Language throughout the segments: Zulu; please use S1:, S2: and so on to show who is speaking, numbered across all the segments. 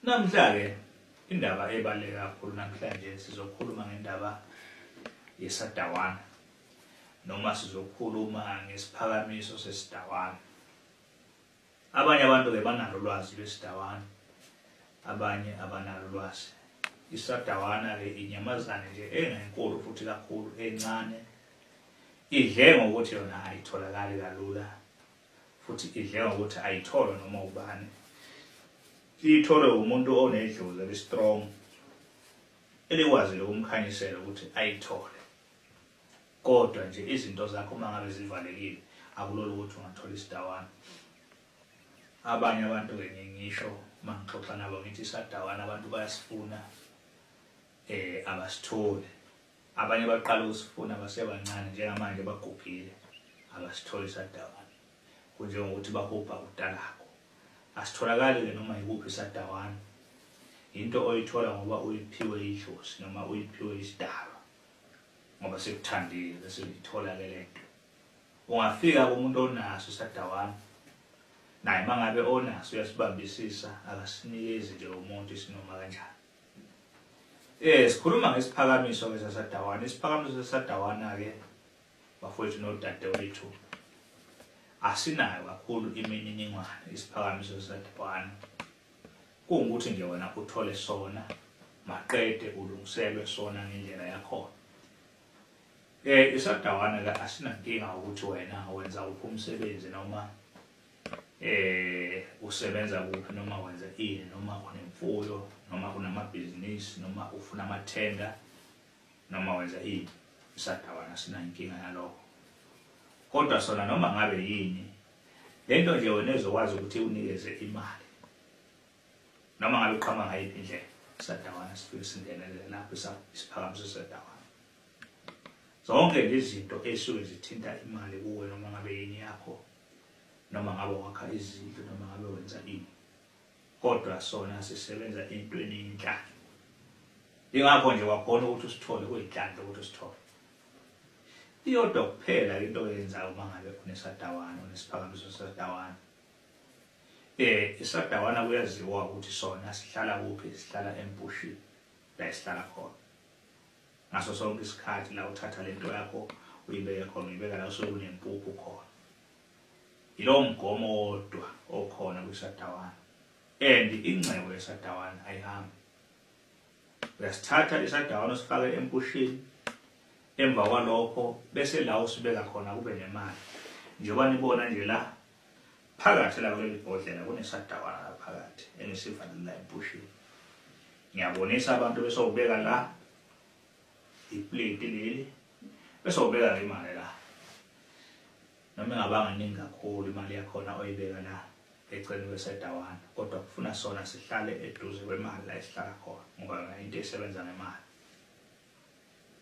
S1: Namhla-ke indaba ebaluleke kakhulu namhlanje sizokhuluma ngendaba yesadawana noma sizokhuluma ngesiphakamiso sesidawana. Abanye abantu-ke banalo ulwazi lwesidawana, abanye abanalo ulwazi. Isadawana-ke inyamazane nje engenkulu futhi kakhulu, encane, idle ngokuthi yona ayitholakali kalula futhi idleka ukuthi ayitholwe noma ubani liyitholwe umuntu onedlozi elistrong elikwazile ukumkhanyisela ukuthi ayithole kodwa nje izinto zakho uma ngabe zivalekile akulula ukuthi ungathola isidawana abanye abantu kenye ngisho uma ngixoxa nabo ngithi isadawana abantu bayasifuna um abasitholi Abanye baqala ukusifuna basebancane njengamanje bagugile abasitholi sadawana kunjengokuthi bahubha kutalako asitholakali-ke noma yikuphi sadawana yinto oyithola ngoba uyiphiwe idlozi noma uyiphiwe isidalwa ngoba sikuthandile bese uyithola-ke le nto ungafika kumuntu onaso sadawana naye uma ngabe onaso uyasibambisisa akasinikezi nje umuntu isinoma kanjani Eh sikhuluma ngesiphakamiso ke sasadawana isiphakamiso sasadawana ke bafowethu nodadewethu asinayo kakhulu imininingwane isiphakamiso sasadawana kungukuthi nje wena uthole sona maqede ulungiselwe sona ngendlela yakhona eh isadawana ke asinankinga ukuthi wena wenza uphi umsebenzi noma eh usebenza kuphi noma wenza ini noma unemfuyo noma unamabhizinisi noma ufuna amathenda noma wenza ini isadawana sinankinga yalokho kodwa sona noma ngabe yini lento nje wena ezokwazi ukuthi unikeze imali noma ngabe uqhama ngayiphi indlela isadawana sifike singenelele lapho isiphakamiso sadawana zonke lezi zinto esuke zithinta imali kuwe noma ngabe yini yakho noma ngabe wakha izindlu noma ngabe wenza ini kodwa sona sisebenza entweni yenhlalo ingakho nje wakhona ukuthi usithole kuyinhlanhla ukuthi usithole iyodwa kuphela into oyenzayo uma ngabe unesadawana unesiphakamiso sesadawana eh isadawana kuyaziwa ukuthi sona sihlala kuphi sihlala empushini la isihlala khona ngaso sonke isikhathi la uthatha lento yakho uyibeke khona uyibeka la usuke kunempuphu khona yilowo mgomo wodwa okhona kwisadawana and ingcebo yesadawana ayihambi uyasithatha isadawana usifake empushini emva kwalokho bese la usibeka khona kube nemali njengoba nibona nje la Phakathi la kuleli bhodlela kunesadawana la phakathi engisivalela empushini. Ngiyabonisa abantu bese ubeka la iplate leli bese ubeka le mali la. Noma ingabanga ningi kakhulu imali yakhona oyibeka la eceleni kwesadawana kodwa kufuna sona sihlale eduze kwemali la esihlala khona ngoba into esebenza ngemali.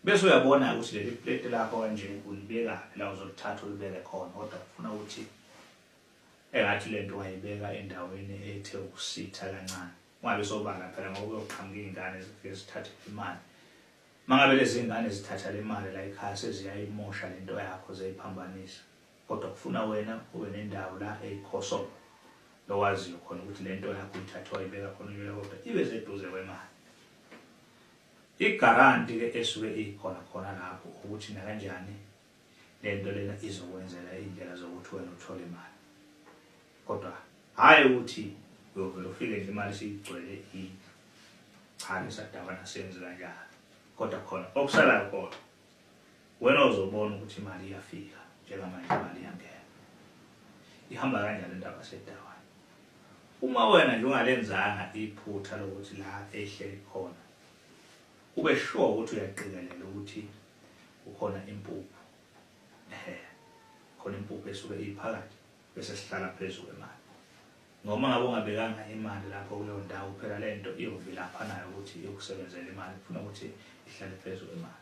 S1: Bese uyabona ukuthi leli plate lakho kanje ulibekaphi la uzolithatha ulibeke khona kodwa ufuna ukuthi engathi lento wayibeka endaweni ethe ukusitha kancane ungabe sobala phela ngoba uyoqhamuka izingane zifike zithathe imali mangabe lezi ngane zithatha le mali la ekhaya seziyayimosha lento yakho zeyiphambanisa kodwa kufuna wena ube nendawo la eyikhoso lowaziyo khona ukuthi lento yakho ithathwa ibeka khona uyoya kodwa ibe seduze kwemali Igaranti ke esuke ikhona khona lapho ukuthi nakanjani lento lena izokwenzela indlela zokuthi wena uthole imali kodwa hhayi ukuthi uyovele ufike nje imali siyigcwele indlu cha ngisadaba nasenzi kanjalo kodwa khona okusalayo kodwa Wena uzobona ukuthi imali iyafika njengamanje imali iyangena. Ihamba kanjani indaba sedawa? Uma wena nje ungalenzanga iphutha lokuthi la ehleli khona ube sure ukuthi uyaqikelela ukuthi ukhona impuphu. Ehe. Khona impuphu esuke iphakathi bese sihlala phezulu emali. Noma ngabe ungabekanga imali lapho kuleyo ndawo phela le nto iyovilapha nayo ukuthi iyokusebenzela imali kufuna ukuthi ihlale phezu kwemali.